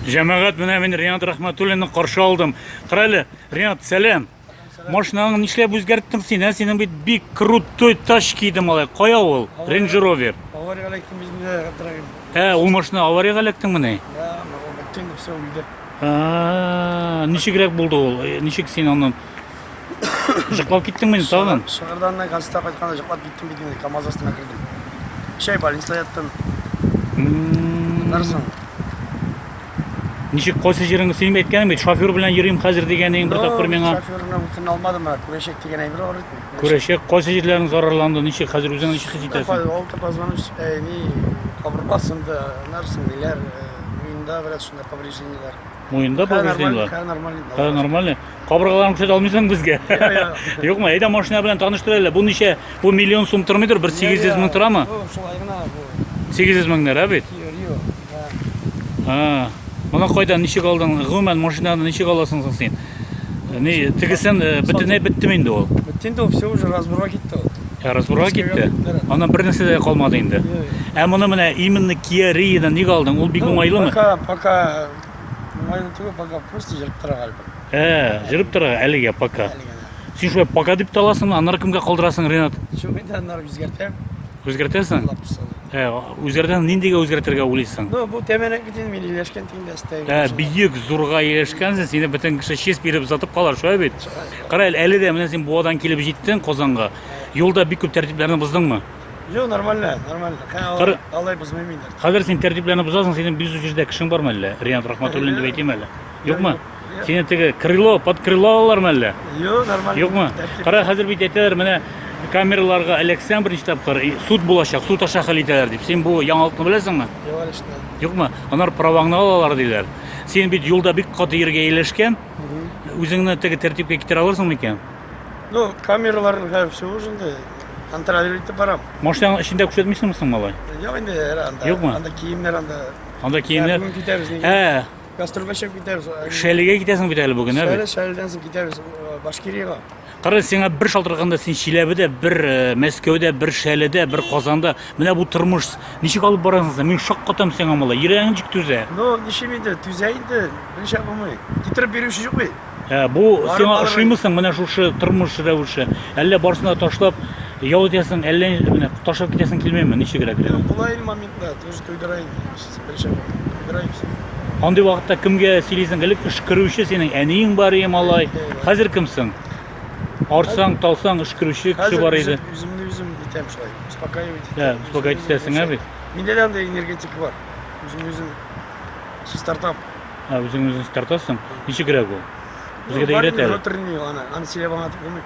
Җәмәгать менә мин Ренат Рахматуллинны каршы алдым. Кара әле, Ренат, сәлам. Машинаңны нишләп үзгәрттең син? Ә синең бит бик крутой тачки иде малай. Кая ул? Range Rover. Авария электем безне дорогим. Ә, ул машина авария электең менә? Да, мама, тем все уйдет. А, ничегрәк булды ул? Ничек син аны Жыклап киттеңме инде тагын? Шыгырданнан газета кайтканда жыклап киттем бит инде, КАМАЗ астына кердем. Өч ай больниста яттым. Аннарсың. Ничек кайсы җиреңне син әйткәнем бит, шофер белән йөрим хәзер дигәнең бер тапкыр миңа. Шоферны үтен алмадым, ә күрәчәк дигән әйбер бар бит. Күрәчәк кайсы җирләрең зарарланды, ничек хәзер үзең ничек хис итәсең? Алты позвонуч, ни, кабырга сынды, аннарсың, ниләр, миңда бераз шунда повреждениеләр. Муенда Хәзер повреждение нормально, бар. хәзер нормально. Хәзер нормально. Кабыргаларын күрсәтә алмыйсың безгә. Я, я. Юкмы? Әйдә машина белән таныштыр әле. Бу ничә? Бу миллион сум тормыйдыр, бер 800 мең торамы? Бу шулай гына бу. 800 меңнәр, ә бит? Рио. Да. А. Моны кайдан ничек алдың? Гомумән машинаны ничек аласың соң син? Не, тегесен бөтенләй беттеме инде ул? Бетте инде ул, все уже разборга китте ул. Ә разборга китте? Ана бер нәрсә дә калмады инде. Ә моны менә именно Kia Rio-ны ник алдың? Ул бик уңайлымы? Пока, пока уңайлы түгел, пока просто җырып тора гальбом. Ә, җырып тора әлегә пока. Син шулай пока дип таласың, аннары кемгә калдырасың, Ренат? Чүгендә аннары үзгәртәм. Үзгәртәсең? Ә үзгәргән ниндигә үзгәртергә уйлыйсың? Ну, бу тәмәнәк бит инде мин ияләшкән тиң дә стәй. Ә биек зурга ияләшкәнсең, сине бөтен кеше чист биреп озатып калар, шулай бит? Кара әле, әле дә менә син Буадан килеп җиттең Казанга. Юлда бик күп тәртипләрне боздыңмы? Юк, нормально, нормально. Кара, алай бозмыйм инде. Хәзер син тәртипләрне бозасың, синең бизүче дә кешең бармы әллә? Риант Рахматуллин дип әйтим әле. Юкмы? Сине теге крыло, под крыло алалармы әллә? Юк, нормально. Юкмы? Кара, хәзер бит әйтәләр, менә камераларга эләксәң беренче тапкыр, суд булачак, суд аша хәл итәләр дип. Син бу яңалыкны беләсеңме? Юк, әле шунда. Юкмы? Анар праваңны алалар диләр. Син бит юлда бик каты ергә ияләшкән. Үзеңне теге тәртипкә китерә алырсың микән? Ну, камералар һәм все уже инде. Контролировать итеп барам. Машинаның эчендә күрсәтмисеңме соң, малай? Юк инде, анда. Юкмы? Анда киемнәр анда. Анда киемнәр. Ә, Гастрольгә чыгып китәбез. Шәлегә китәсең бит әле бүген, ә? Шәле, Шәледән соң китәбез э, Башкириягә. Кара, сиңа бер шалтыраганда син Чиләбедә, бер э, Мәскәүдә, бер Шәледә, бер Казанда. Менә бу тормыш ничек алып барасың син? Мин шаккатам сиңа малай. Йөрәгең ничек түзә? Ну, ничем инде, түзә инде, берничә булмый. Китереп бирүче юк бит. Ә, бу Барып сиңа барып- ошыймы соң менә шушы тормыш рәвеше? Әллә барсын да ташлап ял итәсең, әллә менә ташлап китәсең килмәйме? Ничегрәк? Була инде моментлар, тоже туйдыра инде. Андый вакытта кемгә сөйлисең? Элек өшкерүче синең әниең бар иде малай. Хәзер кемсең? Арсаң, талсаң өшкерүче кеше бар иде. Хәзер үземне үзем итәм шулай. Успокаивать итәм. Дә, успокаивать итәсең, әби. Миндә дә андый энергетик бар. Үземне үзем чистартам. Ә үзеңне үзең чистартасың? Ничегрәк ул? Безгә дә өйрәт әле. Внутренний аны, аны сөйләп аңлатып булмый.